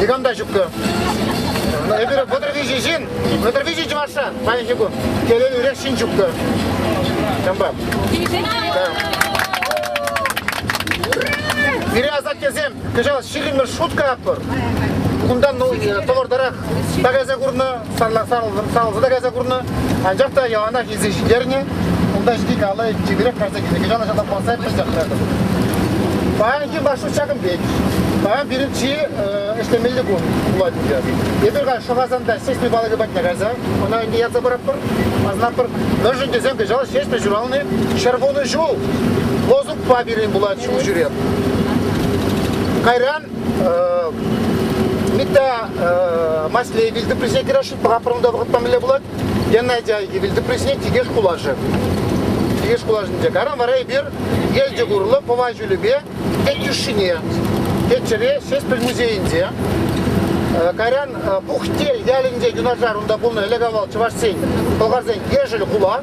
Никам та ҫуккӑ. Эпир вӑтӑр виҫӗ ҫын, вӑтӑр виҫӗ чӑвашран паянхи кун телей урех ҫын ҫуккӑ. Ҫампа. Пире асаттесем кӑҫал ҫирӗммӗш шутка ятпӑр. Кунтан ну, тӑвӑртарах пакаса курнӑ, сарласа та кайса курнӑ, анчах та яланах илсе ҫитернӗ. Унта ҫити калӑ чиперех кайса килнӗ. Кӑҫал ӑҫана паса эппин ҫакнатӑп. Паянхи маршрут ҫакӑн пек. Паян пирӗн чи ӗҫлемелли кун пулать ӗнтӗ. Эпир ка Шӑхасанта ҫеҫпӗл палӑкӗ патне кайса ӑна ӗнтӗ ятса паратпӑр. Асӑнатпӑр. Мӗншӗн тесен кӑҫал ҫеҫпӗл ҫуралнӑ ҫӗр вунӑ ҫул. Лозунгпа пирӗн пулать ҫул ҫӳрев. Кайран Митта масле вилтуприсе кираши папрумда вӑхӑт памеле пулать. Геннадий вилтуприсне тикеш кулашы. Тикеш кулашынче каран вара эпир елчӗ курлы пӑва ҫулӗпе Тетюшине, Теччӗре Ҫеспӗл музейӗнче Карян Пухтел ялӗнче юнашар унта пулнӑ ӗлӗк-авал чӑвашсен, пӑлхарсен Ешӗл хула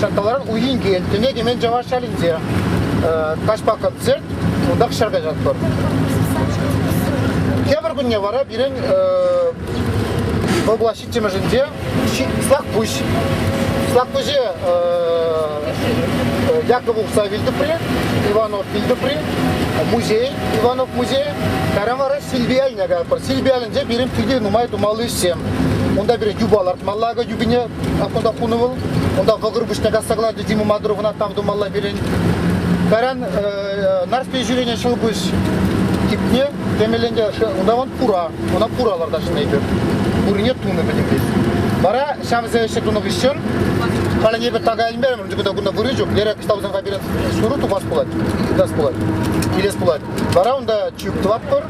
Ҫак каларӑм уйинкен, тӗне кӗмен чӑваш шалӗнче. Каҫпа кӑпсет, унтах ҫӗр каҫатпӑр. Тепӗр кунне вара пирӗн вӑл пулас ҫиччӗмӗшӗнче Слакпуҫ. Слакпуҫе Яков Ухса вилтӗпри, Иванов вилтӗпри, музей, Иванов музей, кайран вара Силбияльне каятпӑр. Силбиялӗнче пирӗн питӗ нумай тумалли ӗҫсем. Унта пирӗн юпа лартмалла, юпине Оттуда хунувал, онда вӑгыр пуҫта касса кӑларчӗ Дима Мадуровна тав тумалла пирӗн. Каран нарспи жюрине шыл пуҫ типне темеленте унтан пура, ӑна пура ларта шнейпер. Пурне тунӑ пӗтӗмлеть. Вара ҫавсем ӗҫе тунӑ хыҫҫӑн халӗнепе така илмерӗмӗр, тукта кунта вырӑ ҫук, лера кстаусанга пирӗн шуру тухас пулать, тытас пулать, илес пулать. Вара унта чӳк тӑватпӑр,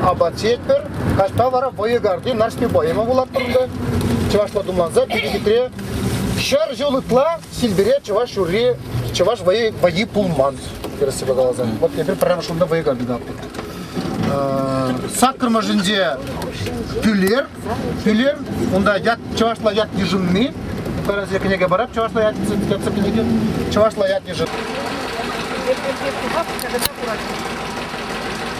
апат ҫиетпӗр, Каҫпа вара Вӑйӑгарти Нарспи поема вулатпӑр унта. Чӑвашла тумланса перекетре ҫӗр ҫул ытла Силпере чӑваш юрри, чӑваш вӑйи, вӑйи пулман, тӗрӗссипе каласан. Вот эпир прямо шунда вӑйӑга бедатпӑр. Саккӑр мӑшӗнче Пӳлер, Пӳлер, унта ят, чӑвашла ят йышӑнни, Карас кӗнеке барап чӑвашла ят ятсӑр кӗнеке, чӑвашла ят йышӑнни.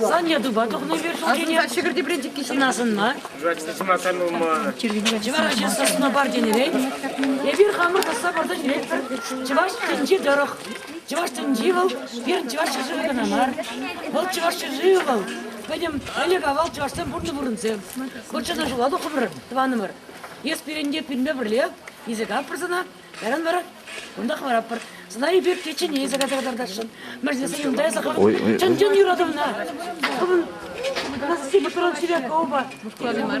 Сан ятупа тухнӑ вир ҫулкине. Асӑнса ҫӗкӗр тепринчӗкки ҫын асӑнма. Жвачество сӑмах канмалма. Чӑваш сосна бар тенӗрен. Эпир хамӑр тӑсса пӑрта ҫӳретпӗр. Чӑваш тӗнчи тӑрӑх. Чӑваш тӗнчи вӑл пирӗн чӑваш ҫӗршывӗ кӑна мар. Вӑл чӑваш ҫӗршывӗ вӑл. Пӗтӗм ӗлӗк-авал чӑвашсем пурнӑ пурӑнсем. Вӑл чӑна ҫула тухрӑмӑр, тӑванӑмӑр. Эс пирӗнте пӳлме пӗрле, эсӗ каппӑр сана, Яран вара кунтах варатпӑр. Сӑнай пек кечене эсӗ кайса кӑтартасшӑн. Мерседесе юлда эсӗ хӑвӑн. Чӑн-чӑн юрату ӑна. Хӑвӑн Насти Петров Сиренко опа. Мухтавлӑ мар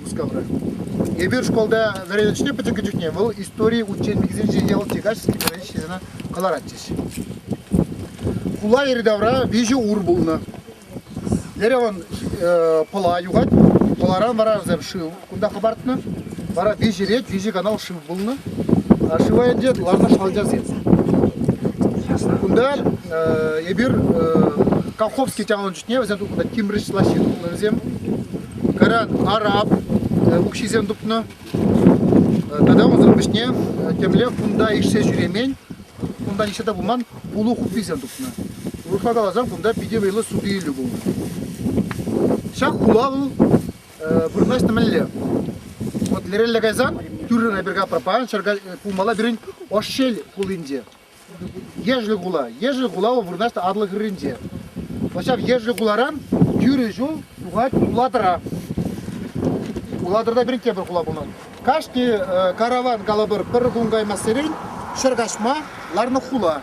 Мускавра. Эпир шкулта вӗреннӗ чухне пӗтӗм чухне вӑл истори учебникӗсенче явӑлти качески кӑна ҫырса кӑларатчӗҫ. Хула йӗри-тавра виҫӗ ур пулнӑ. Ереван э, Пӑла юхать. Пӑларан вара вӗсем шыв кунта хӑпартнӑ. Вара виҫӗ рет виҫӗ канал шыв пулнӑ. А шыва ӗнтӗ ларнӑ шалчасем. Кунта э, эпир э, Колховский тяван чухне вӗсем кунта тимрӗҫ лаҫҫын пулнӑ вӗсем. Кайран араб укҫисем тупнӑ. Тата унсӑр пуҫне темле кунта ишсе ҫӳремен, кунта ишсе те пыман улу хупписем тупнӑ. Урӑхла каласан, кунта питӗ вӑйлӑ суту-илӳ пулнӑ. Ҫак хула вӑл вырнаҫнӑ мӗнле? Вот лерелле кайсан тӳррӗн эпир капра паян ҫӗрка пулмалла пирӗн Ошель хулинче. Ешӗл хула. Ешӗл хула вӑл вырнаҫнӑ Атлӑ хӗрринче. Вӑл ҫав Ешӗл хуларан тӳрӗ ҫул тухать Улатӑра. Улатӑрта пирӗнте пӗр хула пулнӑ. Кашни э, караван калӑпӑр пӗр кун каймассерен ҫӗр каҫма ларнӑ хула.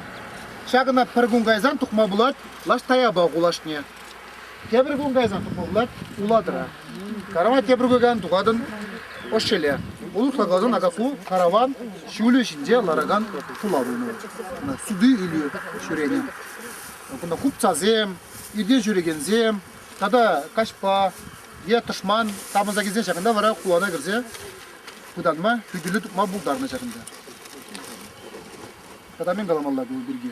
Ҫакӑна пӗр кун кайсан тухма пулать Лаш Таяпа хулашне. Тепӗр кун кайсан футболлать Улатӑра. Карава тепӗр кайсан тухатӑн Ӑшеле. Улӑхла каласан Акаку караван ҫулӗ ҫинче ларакан хула пулнӑ. Суды илӳ ҫӳренӗ. Кунта хупцасем, ирте ҫӳрекенсем тата каҫпа е тӑшман тапӑнса килсен ҫакӑнта вара хулана кӗрсе пытанма, хӳтӗле тупма пултарнӑ ҫакӑнта. Тата мӗн каламалла ку пирки?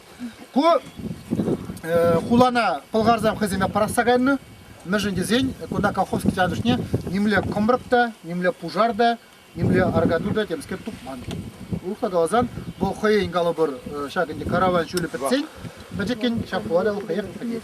Ку хулана пӑлхарсем хӑйсемпе пӑрахса кайнӑ. Мӗншӗн тесен кунта колхозский тантӑшне нимле кӑмрӑк та, нимле пушар та, нимле аркату та темскер тупман. Урӑхла каласан, вӑл хӑйӗн калӑпӑр ҫак ӗнтӗ караван ҫулӗ пӗтсен пӗчӗккӗн ҫак хулара вӑл хӑех пӗтет.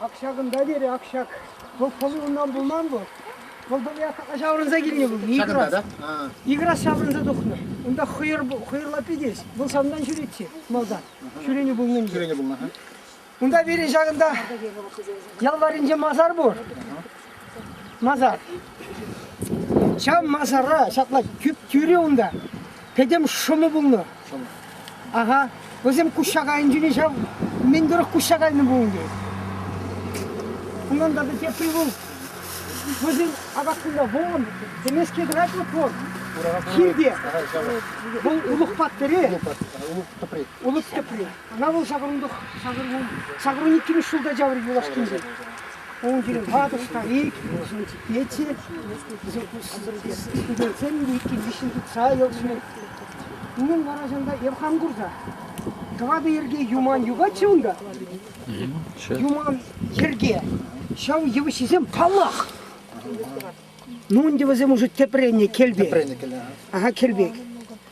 Ак ҫакӑнта вер, ак ҫак. Вӑл пӑли унтан пулман вӑл. Вӑл пӑли ҫаврӑнса килнӗ вӑл, Икрас. Икрас ҫаврӑнса тухнӑ. Унта хӑйӑр хӑйӑрла питӗ. Вӑл санран ҫӳретчӗ малтан. Ҫӳренӗ пулнӑ. Ҫӳренӗ пулнӑ. Унта вире ҫакӑнта ял варринче масар пур. масар. Ҫав масара ҫапла тӳп тӳрӗ унта. Пӗтӗм шӑму пулнӑ. Ага. Вӗсем куҫҫак айӗнчен ҫав мӗн тӑрӑх куҫҫак айнӑ пулин те. Унӑн та пӗр тепри пул. Вӗсен апатпунда вон, тӗмеске тӑрать вот вон. Хирте. Вӑл улӑх паттӑрӗ. Улӑх тӑпри. Улӑх тӑпри. Ана вӑл ҫакӑрунтах ҫакӑрун иккӗмӗш ҫулта чаврӗ юлашкинче. Унтин ватӑ старик фортепече студентсен иккӗмӗшӗн тытса йӑлшӑн. Унӑн вара ҫынта эп хам курса. Тӑватӑ йӗрке юман юхать-ши унта? Юман йӗрке. Ҫав йывӑҫҫисем паллах. Ну, ӗнтӗ вӗсем уже тепренне кӗлпе. Тепренне кӗле. Ага, кӗлпек.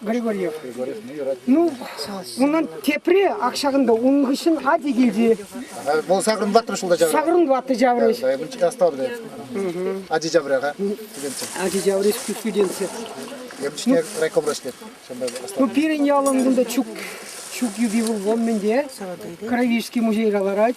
Григорьев. Ну, унан тепре ак ҫакӑнта унӑн хыҫҫӑн ати килчӗ. Вӑл сакӑрӑн ваттӑр ҫулта ҫаврӗ. Сакӑрӑн ваттӑ ҫаврӗҫ. Оставлю. Ачи ҫаврӗ-ха. Ачи ҫаврӗҫ ку студентсем. Емӗшне райкомрачне. Ну, пирӗн ялӑн кунта ҫук ҫук юпи вӑл вон мӗнте. Кровишский музейра ларать.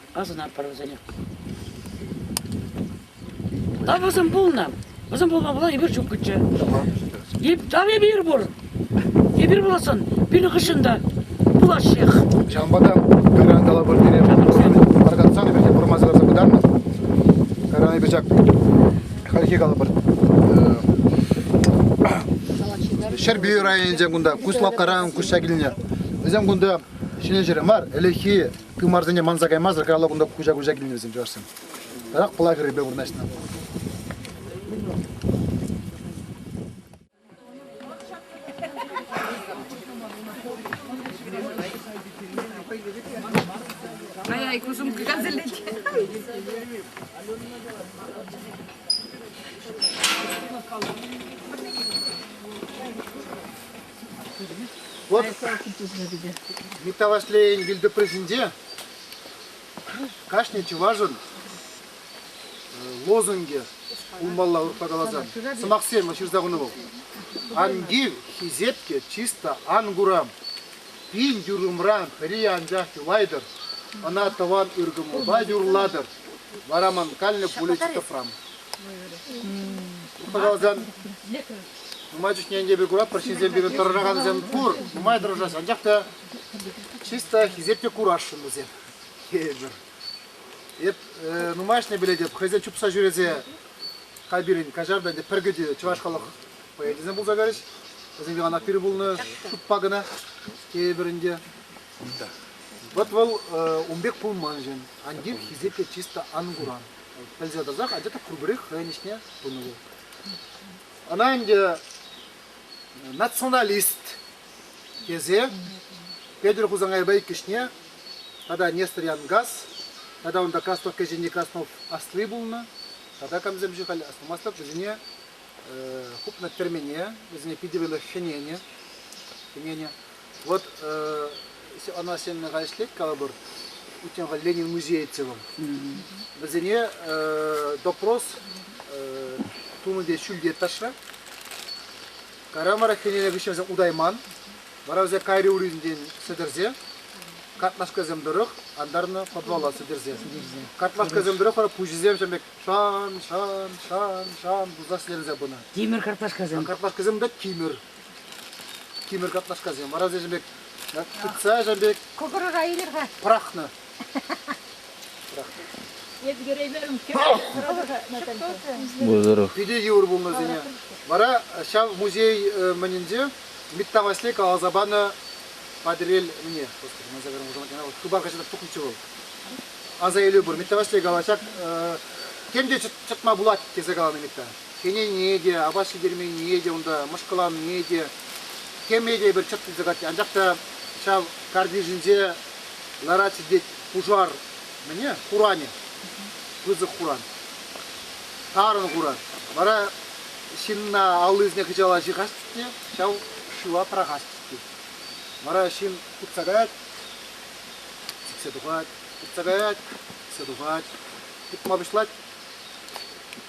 Асӑнатпӑр вӗсене. Та вӗсем пулнӑ. Вӗсем пулма пула эпир чуккӑччӗ. Тав эпир пур. Эпир пуласӑн. Пирӗн хыҫҫӑн та пулаҫҫех. Ҫавӑнпа та кайран калӑпӑр пире паркатсан эпир те пурӑнма сӑласа пытарнӑ. Кайран эпир ҫак хальхи калӑпӑр Ҫӗрпӳ районӗнчен кунта Куславккаран куҫса килнӗ. Вӗсем кунта ҫӗнӗ ҫӗрӗ мар, ӗлӗкхи тымарсене манса каймасӑр каялла кунта куҫа-куҫа килнӗ вӗсем чӑвашсем. Тата пӑла хӗррипе вырнаҫнӑ. Ай, ай, кусум кыгазылет. Вот Митта Васлейӗн вилтӑприсенче кашни чӑвашӑн лозунге умбалла урӑхла каласан сӑмахсем ҫырса хунӑ вӑл. Ангив хисепке чисто ангурам. Пин юрӑмран хӑри анчах юлайтӑр. Ӑна тӑван ыркӑмӑлпа юрлатӑр. Вара ман каллӗ пулӗ тӑпрам. Урӑхла каласан Нумай чухне ӗнтӗ эпир куратпӑр, ҫынсем пирӗн тӑрӑшакан ачан пур, нумай тӑрӑшаҫҫӗ, анчах та чисто хисеппе курасшӑн вӗсем. Тепӗр. Эп э, нумайӑшне пӗлетӗп, хӑйсем чупса ҫӳресе хай пирӗн каҫар та ӗнтӗ пӗр кӗтӳ чӑваш халӑх поэтесем пулса кайрӗҫ. Вӗсем яланах пирӗн пулнӑ шутпа кӑна. Тепӗр ӗнтӗ. Вот вӑл э, ун пек пулман ҫын. Ан тив, хисепе чисто ан куран. пӗлсе тӑрсах анчах та пурпӗрех хӑйӗн ӗҫне тунӑ вӑл. Ӑна ӗнтӗ националист тесе Петӗр Хусанкайпа иккӗшне тата Нестор Янгас тата унта Краснов кӗҫӗнни Краснов асли пулнӑ тата камсемшӗн халь аслӑмаслӑх вӗсене хупнӑ тӗрмене вӗсене питӗ вӗлӗ хӗненӗ хӗненӗ Вот ӑна сеннера ӗҫлет калӑпӑр, утенка Ленин Музеевцевӑн. Вӗсене допрос тунӑ ҫӳлте ташра. Карамара хӗнене вӗҫесе удайман. Вара вӗсем кайри уринчен сӗтӗрсе картлашкасем тӑрӑх антарнӑ подвала сӗтӗрсе. Картлашкасем тӑрӑх вара пуҫӗсем ҫем пек шан, шан, шан, шан пулса сӗтӗрсе пынӑ. Тимӗр картлашкасем. Картлашкасем та тимӗр. Тимӗр картлашкасем арасем пек тытса ҫав пек Кӑкӑрӑра илер-ха. пӑрахнӑ. Эпӗ кӗреймерӗм. Вӑзӑрах. Питӗ йывӑр пулнӑ вӗсене. Вара ҫав музей э, мӗнӗнче Митта Васлей каласа панӑ Патӑрел мне. Господи, ман загаром уже она вот хыпар качета тухнӑччӗ вӑл. Аса илӳ пур. Митта Васлей кала ҫак э, тем те чӑтма пулать тесе каланӑ Митта. хӗнене те, апат ҫитерменнине те, унта мӑшкӑланнине те, хӗме те пӗр чӑт илсе катти. Анчах та ҫав картишӗнче ларать ҫитет пушар мӗне? Хуранӗ. Пысӑк хуран. Тарӑн хуран. Вара ҫынна аллисене хыҫала ҫыхасть те ҫав шыва пӑрахасть тет. Вара ҫын утса каять, сиксе тухать, утса каять, сиксе тухать, утма пуҫлать.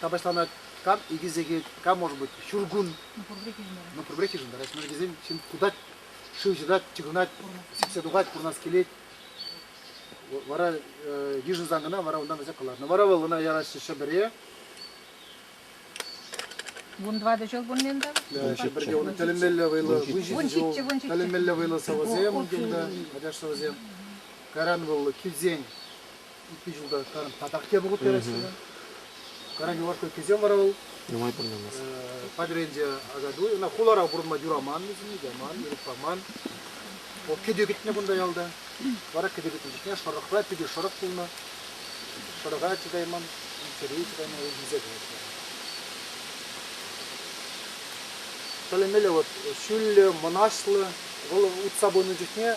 капаҫланать. Кам икӗ сехет, кам, может быть, ҫуркун. Ну, пурпӗрех йышӑнтарать. Мӑшӑркесем ҫын кутать, шыв ҫырать, чыхӑнать, сиксе тухать, курнас килет. Вара йышӑнсан кӑна вара унтан вӗсе кӑларнӑ. Вара вӑл ӑна яраҫҫӗ Ҫӗпӗре. Вун тӑватӑ ҫул пулнинта? Ҫӗпӗрте унӑн тӗлӗнмелле вӑйлӑ выҫӑ ҫул, тӗлӗнмелле вӑйлӑ сӑвӑсем килнӗ, ачаш сӑвӑсем. Кайран вӑл килсен икӗ ҫулта татах те пӑхут караҫҫӗ. Караҫу кӗсем вара вӑл. Нумай пурӑнамас. Падренче акатуй, ӑна хулара пурӑнма юраман, яман, ирӗк паман. Вӑл кӗтӳ кӗтнӗ кунта ялта. Вара кӗтӳ кӗтнӗ чухне шӑрӑхра кӗтӳ шӑрӑх пулнӑ. Шӑрӑха чӑтайман, чӗри чӑтайман, вӑл вилсе кайнӑ. Тӗлӗмелле вот ҫӳллӗ, мӑнаҫлӑ. Вӑл утса пынӑ чухне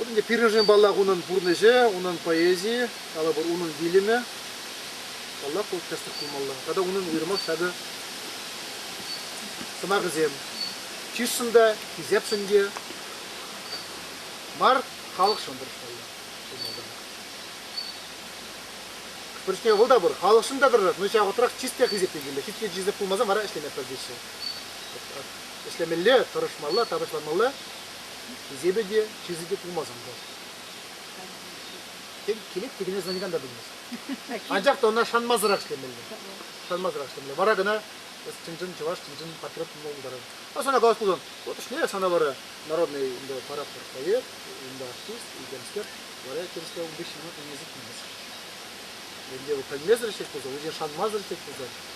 Ӗнтӗ пирӗншӗн паллах унӑн пурнӑҫӗ, унӑн поэзийӗ, калӑпӑр, унӑн вилӗмӗ. Паллах, ку тӗслӗх пулмалла. Тата унӑн уйрӑмах ҫакӑ сӑмахӗсем. Чысшӑн та, хисепшӗн те мар, халӑхшӑн тӑрӑшмалла. Пӗрчне вӑл та пур, халӑхшӑн та тӑрӑшать, но ҫавӑтрах чист те хисепленмелле. Хитре чисеп пулмасан вара ӗҫлемеппӗр теҫҫӗ. ӗҫлемелле, тӑрӑшмалла, тапӑҫланмалла. Эсепе те, чысӗ те пулмасан та. Тен, килет те киле сӑнакан та пӗлмест. Анчах та ӑна шанмасӑрах ӗҫлемелле. Шанмасӑрах ӗҫлемелле. Вара кӑна чӑн-чӑн чӑваш, чӑн-чӑн патриот пулма пултарать. А сана калас пулсан, вот ӗҫне сана вара народный унда парафор проект, унда артист, икемскер, вара тӗрӗслев ун хыҫҫӑн ӑна пӗлмесӗр килмесӗр. Ӗнтӗ пӗлмесӗр ӗҫлет пулсан, вӗсен шанмасӑр ӗҫлет пулсан,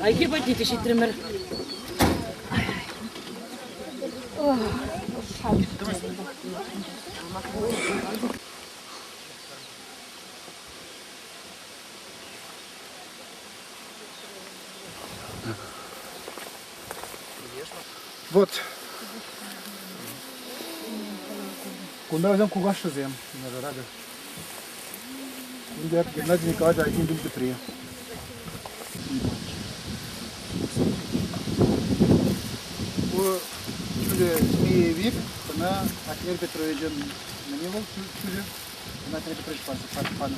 Айхи патне ҫитрӗмӗр. Вот. Кунта вӗсем кукашшӗсем, нажарага. Геннадий Николаевич Айсен пин тӗпри. Ку ҫӳле Змеевик, ӑна Атнер Петровичӑн мӗне вӑл ҫӳле? Ӑна Атнер Петрович панӑ.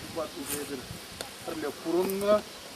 Укмак уже эсир пӗрле пурӑннӑ.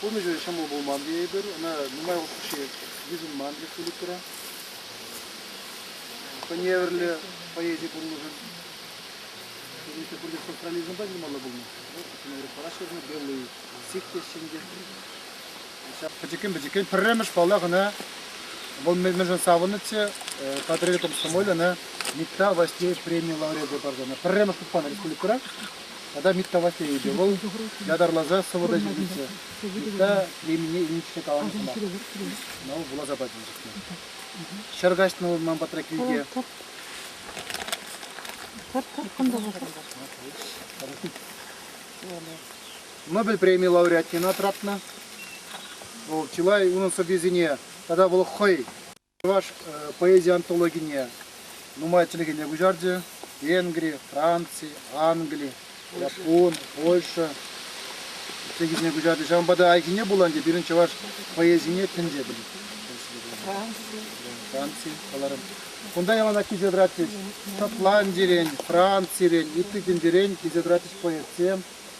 Пурнӑҫӗ ҫӑмӑл пулман тейӗпӗр. Ӑна нумай укҫи йышӑнман республикӑра. Хӑневӗрлӗ поэзи пурнӑҫӑн пурнӑҫӗ пурте социализмпа ҫырмалла пулнӑ. Кӗнекере параҫҫӗ кӑна белые стих теҫҫӗ те. Ҫав пӗчӗккӗн-пӗчӗккӗн пӗрремӗш паллах ӑна вӑл мӗншӗн савӑннӑччӗ патриотом коммолье ӑна Никта Васильевич преми лауреачӗ парса пӗрремӗш пухпан республикӑра тата меткавассейӗнче вӑл ятарласа сӑвӑта ҫитӗнчӗ. Ытта премине илнӗччӗ каланӑ сӑмах. Ӑна вуласа патӑм чухне. Ҫӗр каҫнӑ вӑл ман патра килте. Нобель преми лауреатне тапнӑ. Вӑл чылай унӑн сӑввисене тата вӑл хӑй Чӑваш поэзи антологине нумай чӗлхене куҫарчӗ. Венгри, Франци, Англи, Япон, Польша чӗлхисене куҫарчӗ. Ҫавӑнпа та айккине пулан те пирӗн чӑваш поэзине тӗнчепӗн. Франци. Франци каларӑм. Кунта яланах килсе тӑратчӗҫ. Шотландирен, Францирен, ытти тӗнчерен килсе тӑратчӗҫ поэтсем.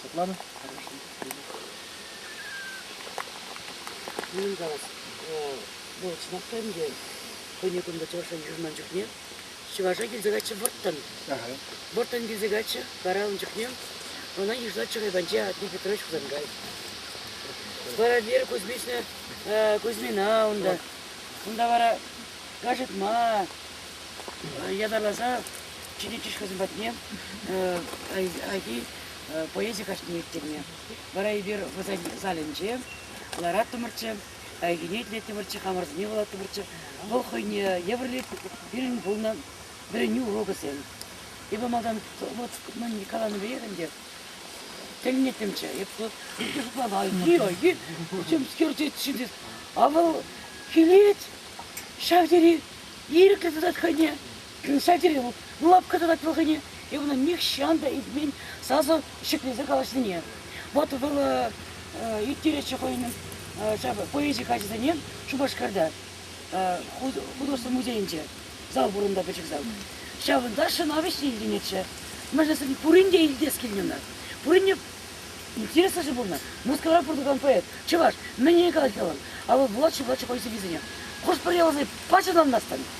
Светлана? Ну да, ну чӑнахтан те хӑйне кунта чӑвашсем юлман чухне чӑваша килсе каччӑ вӑрттӑн. Вӑрттӑн килсе каччӑ каралнӑ чухне ӑна йышла Чурайпанче Атни Петрович Хусанкай. Скоробер Кузьмична, э, Кузьмина унта. Унта вара кашӑтма ятарласа Чиничиш хӑйсем патне Айхи поэзи каҫне ирттерме. Вара эпир вӑсен залӗнче лараттӑмӑрччӗ, Айхине итлеттӗмӗрччӗ, хамӑрсене вулаттӑмӑрччӗ. Вӑл хӑйне евӗрлет пирӗн пулнӑ вӗренӳ урокӗсем. Эпӗ малтан мӑн каланӑ пекех ӗнтӗ тӗлӗнеттӗмччӗ. Эпӗ шутлама айхи, чем скерчет ҫитет. А вӑл килет, ҫав тери ирӗклӗ тытать хӑйне. садире вот лапка тӑвать вӑл хӑйне, и она нихҫан та илтмен сасӑ ҫӗклесе калаҫнине. Вот вӑл ӳттеретчӗ хӑйӗн поэзи каҫӗсене Шупашкарта художество музейӗнче зал пурӑннӑ пӗчӗк зал. Ҫавӑнта ҫӑнавӑҫ илтӗнетчӗ. Мӗншӗн пурин те илтес килнӗ ӑна? Пурин те интереслӗ же пулнӑ. Мускавра пурӑнакан поэт, чӑваш, мӗн калать калан. А вӑл вулатчӗ, вулатчӗ поэзисене. Хӑш-пӗр ялсене пач ӑнланмастӑн.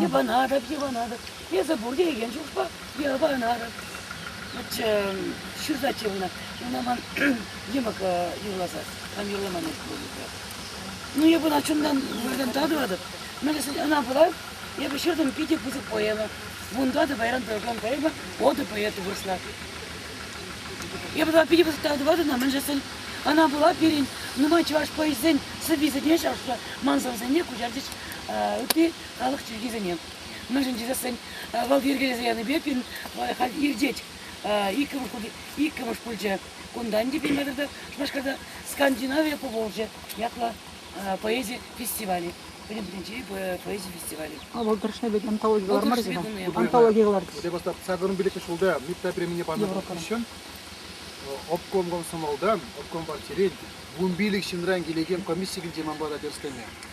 Йӑпанатӑп, йӑпанатӑп. Эсӗ пур теекен чухпа йӑпанатӑп. Ҫырсаччӗ ӑна. Ӑна ман йӑмӑк юрласа, кам юрлама мель пулнӑ. Ну, эпӗ чунтан выртан татӑватӑп. Мӗншӗн ӑна пула эпӗ ҫыртӑм питӗ пысӑк поэма. Унта та паян тӑракан поэма оды поэты вырӑсла. Эпӗ та питӗ пысӑк татӑватӑп та мӗншӗн ӑна пула пирӗн нумай чӑваш поэзисен сӑввисене ҫапса мансӑрсене куҫарчӗҫ ытти халӑх чӗлхисене. Мӗншӗн тесен вӑл йӗркелесе янипе пирӗн вӑл халь иртет. Иккӗмӗш пулчӗ, иккӗмӗш пулчӗ. Кунтан те пинле тата Шупашкарта Скандинавия пулчӗ ятлӑ поэзи фестивалӗ. Пӗтӗм тӗнчери поэзи фестивалӗ. Вӑл тӑрӑшнипе ди антологи кӑлар мар Антологи кӑлартӗҫ. Ӗҫе бастап сакӑрӑн пилӗкмӗш ҫулта МИПта премине панӑ хыҫҫӑн обком комсомолтан, обком партирен вун пилӗк ҫынран килекен комисси килте ман пата тӗрӗс кӗнӗ.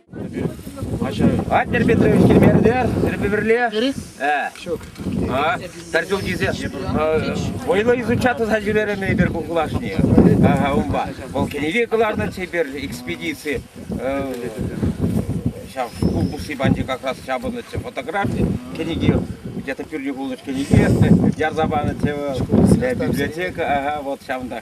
Владимир Петрович килмерӗ тӗрпе пӗрле. Ҫук. Тарчук тесе вӑйлӑ изуча туса ҫӳрерӗмӗр эпир ку хулашне. Унпа. Вӑл кӗнеке кӑларнӑ теперь экспедици ҫав шкул пусси панчи как раз ҫапӑннӑччӗ фотографи кӗнеке где-то пӳрнӳ пулнӑ кӗнеке ярса панӑччӗ библиотека вот ҫавӑнта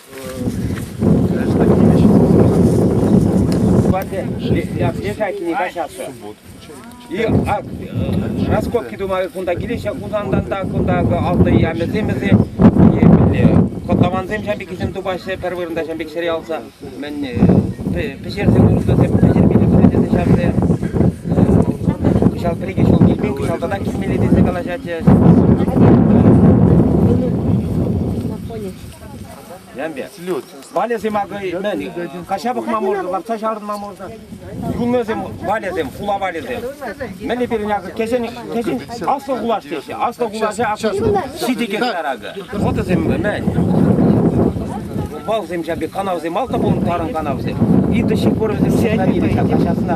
лежать не качаться. И а, раскопки думаю, кунта киле Хусандан та кунта алты ямӗсем вӗсем Котловансем шамбикисем тупаҫҫӗ, пӗр вырӑнта шамбиксере алса. Мен пӗҫерсе куртасем пӗҫермелле тесе ҫавсем. Кӑҫал пӗр-икӗ ҫул килмен, кӑҫал тата килмелле тесе калаҫатчӗ. Слют. Валесем акӑ мӗн, каҫа пӑхма можно, лартса чарӑнма можно. Юлнӑсем валесем, хула валесем. Мӗнле пирӗн акӑ кӗҫӗн, кӗҫӗн аслӑ хулаш теҫҫӗ. Аслӑ хулаҫа акӑ ҫити кӗтер акӑ. Вӑтӑсем мӗн. Балсем ҫапи канавсем, алта пулнӑ тарӑн канавсем. Иртӗҫ пор вӗсем хранилища, каҫасына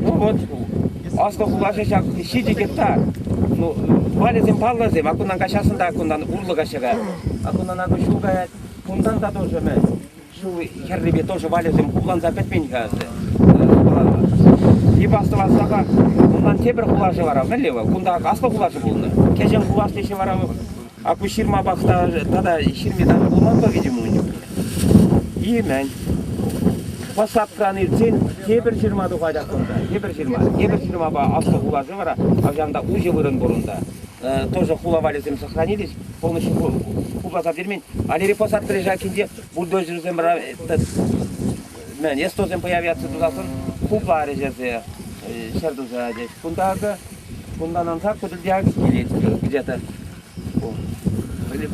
Ну вот, аслӑ хулаҫӑ ҫак ҫичӗ гектар. Ну, валӗсем паллӑсем, акунан каҫасын та акунан урлӑ каҫӑра. Акунан аку ҫул каять, кунтан та тоже мӗн. Ҫул хӗррипе тоже валӗсем кулланса пӗтмен-ха ӑсты. Типа астӑвассапа, унан тепӗр хулашӗ вара мӗнле вӑл? Кунта аслӑ хулашӗ пулнӑ. Кӗҫӗн хулашниҫӗ вара акушерма пахта тата ҫырми тан пулманпа витӗм ун чухне. Имен. Посадкан иртсен тепӗр ҫырма тухатах кунта. Тепӗр ҫырма. Тепӗр ҫырмапа аслӑ хуласы вара авҫанта уҫӑ вырӑн пур унта. Тоже хула валӗсем сохранились полностью ку посад вермен. Алери посад прижакинче бульдозерсем эстосем появятся тусассӑн хупларӗҫ эсе ҫӗр туса тет. Кунта Унтан ансат Кутельдяевск килет где-то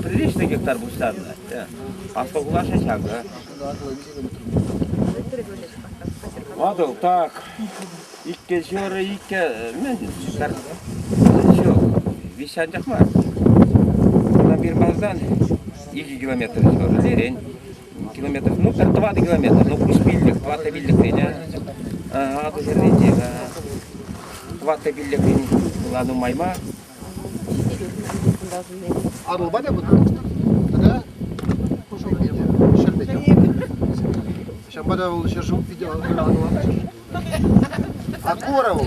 приличный гектар пуҫтарнӑ. Поскольку наша ҫакӑ. Ватӑл так. Иккӗ ҫӗрӗ иккӗ мӗн ҫук. Виҫҫанчах мар. Унтан Бирмаздан икӗ километр ҫурӑлерен километров, ну, тӑватӑ километр, ну, плюс пиллӗк, тӑватӑ пиллӗкрен, Атӑширринче, тӑватӑ пиллӗкрен была нумайма. Арулба да будет? Тогда кушок видео, ҫӗр видео. Ҫапата вӑл ҫӗр видео, а кура вӑл.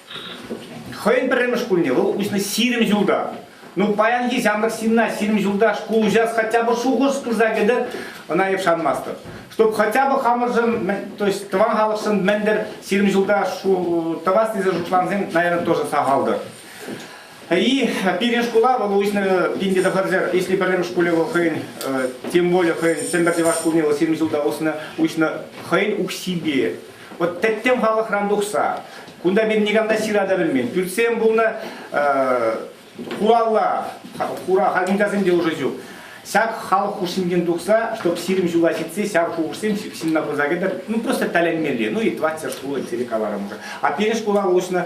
Хӑйӗн пӗрремӗш шкулне вӑл уҫнӑ ҫирӗм ҫулта. Ну, паянхи ҫамрӑк ҫынна ҫирӗм ҫулта шкул уҫас хотя бы шухӑш пырса кӗтӗр, ӑна эп шанмастӑп. Чтобы хотя бы хамӑршӑн, то есть тӑван халӑхшӑн мӗн-тӗр ҫирӗм ҫулта тӑвас тесе шутлансем, наверное, тоже сахалтӑр. И пирӗн шкула вӑл уҫнӑ пин тӑхӑрсер, если пӗрремӗш шкуле вӑл хӑйӗн, тем более хӑйӗн Тӗмпӗрти ваш шкулне вӑл ҫирӗм ҫулта уснӑ, уҫнӑ хӑйӗн укҫипе. Вот тӗттӗм халӑхран тухса, кунта пирӗн никам та ҫыра та пӗлмен. Пӳртсем пулнӑ, хура хура халкинкасем те уже ҫук. Ҫак халӑх хушшинчен тухса, чтоб сирӗн ҫула ҫитсе ҫав шухӑшсем ҫынна пырса кӗтӗр, ну просто тӗлӗнмелле, ну и Тваттер шкулы тери каларӑмӑр. А пирӗн шкула уҫнӑ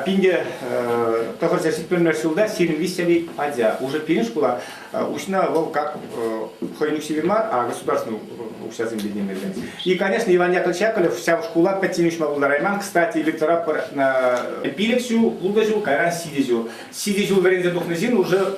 пин те тӑхӑрҫӗр ҫитмӗлмеш ҫулта сирӗн виҫҫӗри ача уже пирӗн шкула уҫнӑ, вӑл как хӑйӗн укҫипе мар, а государственный укҫасемпе темелле. И, конечно, Иван Яковлевич Яковлев ҫав шкула пӗччен уҫма пултарайман, кстати, литература пирӗн ҫул, ултӑ ҫул, кайран ҫичӗ ҫул. Ҫичӗ ҫул вӗренсе тухнӑ ҫын уже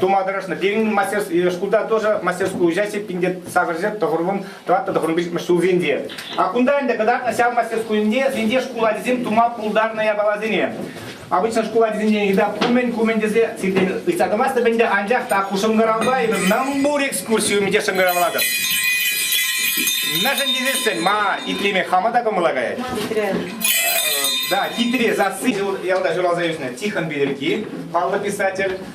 тума тӑрӑшнӑ. Пирӗн мастер шкулта тоже мастерскую участие пинде сакӑрҫет тӑхӑрвун тӑваттӑ тӑхӑрвун пичмӗш ҫулсенче. А кунта ӗнтӗ кӑтартнӑ ҫав мастерскуйӗнче сенде шкул ачисем тума пултарнӑ япаласене. Обычно шкул ачисенчен йыта кумӗн-кумӗн тесе сиртен ыйтса тӑмастӑп ӗнтӗ, анчах та ку шӑнкӑравпа эпир намбур экскурсию ӗмӗте шӑнкӑравлатӑп. Мӗншӗн тесессӗн ма итлеме хама та кӑмӑла каять? Хитре. Да, хитре сасси ялта ҫуралса ӳснӗ Тихон Петӗрки, паллӑ писатель.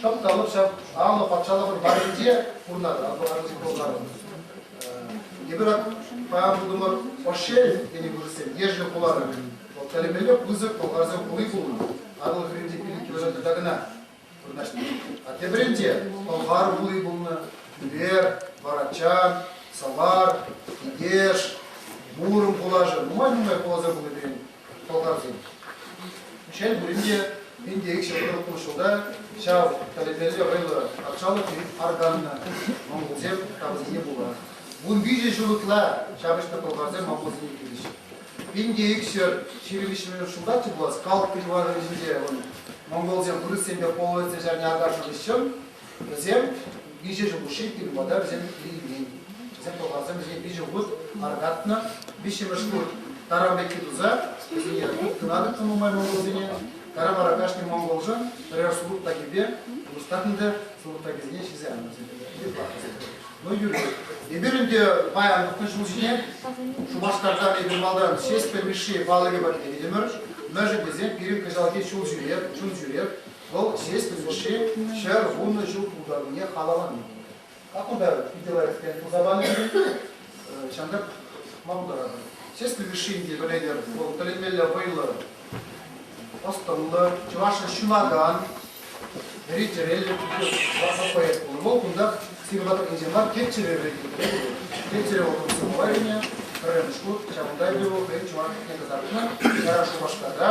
Чӑн талӑп ҫав алӑ патшалӑхӑн варринче пурӑнатӑр, Атӑлханшӑн Болгарӑн. Эпир паян тытӑмӑр Ошель тенӗ вырӑссем, ешӗл хулара. Вӑл тӗлӗмелле пысӑк болгарсен хули пулнӑ. Атӑл хӗрринче пирӗн кӳршӗ тата кӑна вырнаҫнӑ. А тепринче Болгар хули пулнӑ, Тӳпер, Варачан, Савар, Китеш, Муром хулашӗ нумай-нумай хуласем пулнипе пӑлтавсем. Шел пулин те, мин те икҫӗ тӑхӑркун ҫулта ҫав тӗлӗнмелле вӑйлӑ патшалӑх-и арканнӑ монголсем тапӑсене пула. Вун виҫӗ ҫул ытла ҫапӑҫнӑ пӑлхарсем монголсене килӗҫ. Пин те икҫӗр ҫырӑвиҫмӗшер ҫултаччӗ пулас калт перевалӗн ӗҫӗнче ун монголсем вырӑссемпе половецсем ҫарне аташнӑ хыҫҫӑн Вӗсем виҫӗ ҫул хушши икӗ хут та вӗсем илмен. Вӗсем пӑлхарсем вӗсене виҫӗ хут аркатнӑ, виҫҫӗмӗш хут таран пекки туса вӗсене кӑларнӑ нумай монголсене. Таран вара кашни монголшӑн пӗрер сулут такипе улӑштарнӑ та сулут такисене ҫисе аннӑ Ну, Юрий, эпир ӗнтӗ паян вӑхӑт ҫул ҫине Шупашкартан эпир малтан Ҫеҫпӗл Мишши палӑкӗ патне кӗтӗмӗр. Мӗншӗн тесен пирӗн кӑҫалхи ҫул ҫӳреп, чун ҫӳреп, Вӑл ҫеҫ Мишше ҫӗр вунӑ ҫул пултаруллине халаллани пулнӑ. Как он даже питӗ лайӑхтен пулса панӑ, ҫантӑк пӑхма пултаратӑн. Ҫеҫпӗл Мишшинти пӗлетӗр, вӑл тӗлӗнмелле вӑйлӑ, ӑс-тӑнлӑ, чӑвашшӑн ҫунакан, вӗри чӗреллӗ класлӑ поэт пулнӑ. Вӑл кунтах сивӗ патӑркинче мар, тет чӗре вӗрететре те. Тет чӗре вӑл тӑм сӑвӑ илнӗ, пӗрремӗш хут. Ҫавӑнта те вӑл хӑйӗн чӑвашлӑхне кӑтартнӑ. Ара, Шупашкарта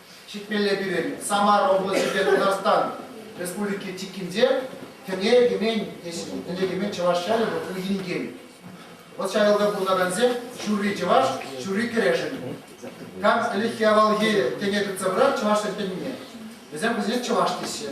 Ҫитмелле пирӗн Самар облаҫӗпе Тутарстан Республики чиккинче Кӗне Кӗмен, Кӗне Кӗмен чӑваш ҫӗрӗ вӑл хуйхи инкен. Вӑт ҫавӑлса пурӑнакансем ҫурри чӑваш, ҫурри кӗрешӗн. Как ӗлӗкхи авалхи тӗне тытса пырать чӑвашсен тӗнне. Вӗсем вӗсене чӑваш теҫҫӗ.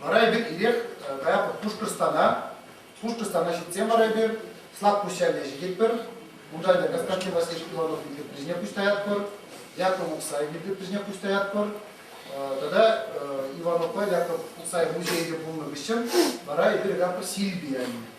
Вара эпир ирех каятпӑр Пушкӑртстана. Пушкӑртстана ҫитсен вара эпир Слакпуҫҫале ҫитетпӗр. Унта ӗнтӗ Константин Васильевич Пилоновӑн ирпреҫне пуҫ таятпӑр, Яков Уксаев ирпреҫне пуҫ таятпӑр. Тата Иванова Яков Уксаев музейӗ те пулнӑ хыҫҫӑн вара эпир каятпӑр Сильбия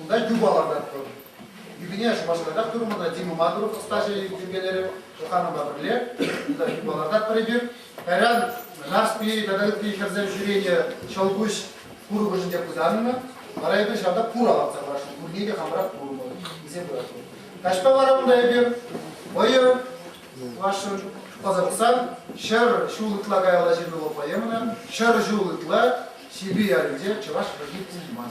Унта юпа лартатпӑр. Юпине Шупашкарта курмана Дима Мадуров ӑстаҫӑ йӗркелерӗ Шуханова пӗрле. Унта юпа лартатпӑр эпир. Кайран Нарспи тата ытти хӗрсем ҫӳренӗ ҫӑлкуҫ курӑкӑшӗнче пытаннӑ. Вара эпир ҫавна пура лартса паршӑн. Пурне те хамӑрах курмӑн, илсе пыратпӑр. Каҫпа вара унта эпир вӑйӑ вашӑн ӑса пӑхсан Ҫӗр ҫул ытла каялла ҫырӑнӑва поэмӑна Ҫӗр ҫул ытла Сипи ялӗнче чӑваш хӗрни пулман.